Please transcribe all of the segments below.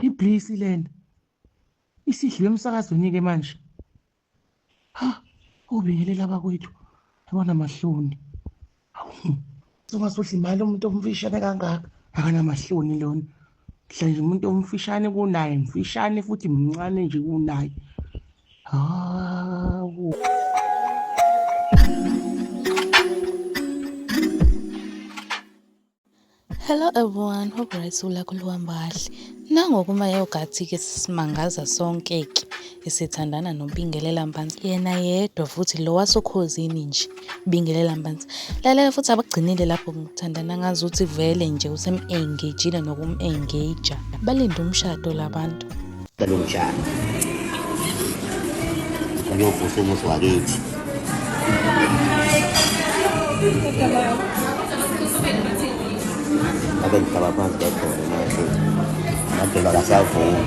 Iblisi lena. Isidliwe emsakazweni ke manje. Ha, ubingelela abakwethu. Yabona mahloni. Hawu. Soba sodla imali umuntu omfishane kangaka. Akanamahloni lona. Hla nje umuntu omfishane kunaye, mfishane futhi mncane nje kunaye. Hawu. Hello everyone, hope right sula kuluhamba kahle. Nango kuma yogurt ke simangaza sonke ke esithandana noBingelela Mpanza. Yena yedwa futhi lo wasokhozini nje Bingelela Mpanza. Lalela futhi abagcinile lapho ngithandana ngazi ukuthi vele nje usem-engagile nokum-engager. Balinde umshado labantu. Cela ungihlanga. Uyovusa umuzi wakithi. Abe ngihlaba phansi kwakhona manje. Madela kasavumi.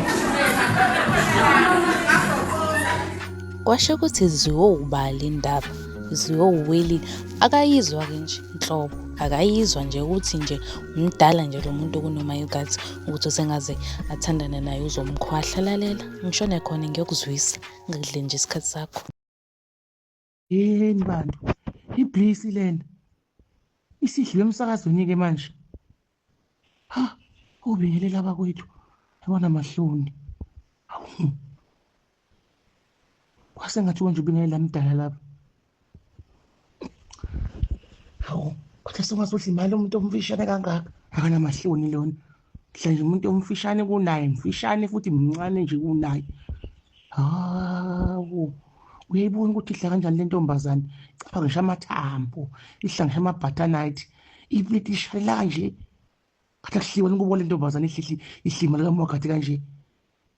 Kwasho ukuthi ziyowubali indaba. Ziyowuweli akayizwa ke nje inhlobo. Akayizwa nje ukuthi nje umdala nje lo muntu kunomayokazi. ukuthi usengaze athandane naye uzomkhwahla lalela ngishone khona ngiyokuzwisa ngikudle nje isikhathi sakho yini bantu iblisi lena isidliwe emsakazweni-ke manje ha ubingelela abakwethu yabona mahloni kwase ngathi konje ubingelela mdala lapha hawu kodwa sengazohle imali umuntu omfishane kangaka akanamahloni lona hla nje umuntu omfishane kunaye mfishane futhi mncane nje kunaye hawu uyayibona ukuthi idla kanjani le ntombazane caba ngisho amathambo idla ngisho amabhathanayithi ipleti ishalela kanje kade kuhliwa nikubo le ntombazane ihlihli ihlima likamwagathi kanje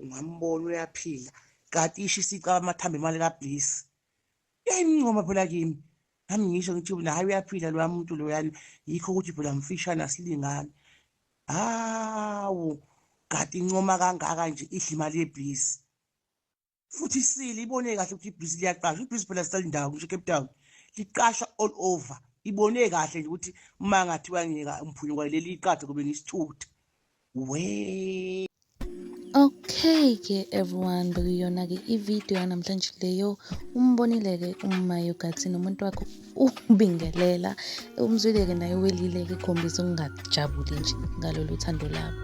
ungambona uyaphila kati isho isica amathambo imali kabliss yayimncoma phela kimi nami ngisho ngithi na hayi uyaphila loya muntu loyani yikho ukuthi phela mfishane asilingani hawu kati incoma kangaka nje idla imali yebhizi futhi isile ibone kahle ukuthi ibhizi liyaqasha ibhizi phela sisalindawo ngisho cape town liqasha all over ibone kahle nje ukuthi uma ngathiwa ngiyeka umphunyuka leli iqathe kube ngisithutha we Okay ke everyone bekuyona-ke i-video yanamhlanje leyo umbonile-ke uma yogathi nomuntu wakho ubingelela umzwile-ke naye welile-ke khombisa ukungajabuli nje ngalolu thando labo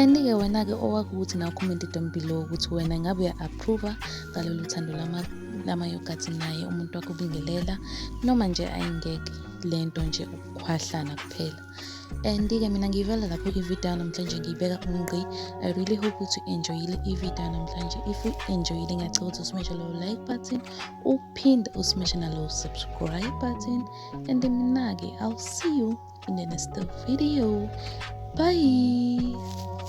and-ke wena-ke owakho ukuthi naw comment down below ukuthi wena ngabe uya-approva ngalolu thando lamayogathi naye umuntu wakho ubingelela noma nje ayingeke le nto nje ukukhwahlana kuphela and ke mina ngiyivela lapho ivideo namhlanje ngiyibeka umgqi i really hope ukuthi u-enjoyile ivideo namhlanje if u-enjoyile ngiyacela ukuthi usimeshe lowo like button uphinde usimeshe nalowo subscribe button and mina-ke i'll see you in the next video bye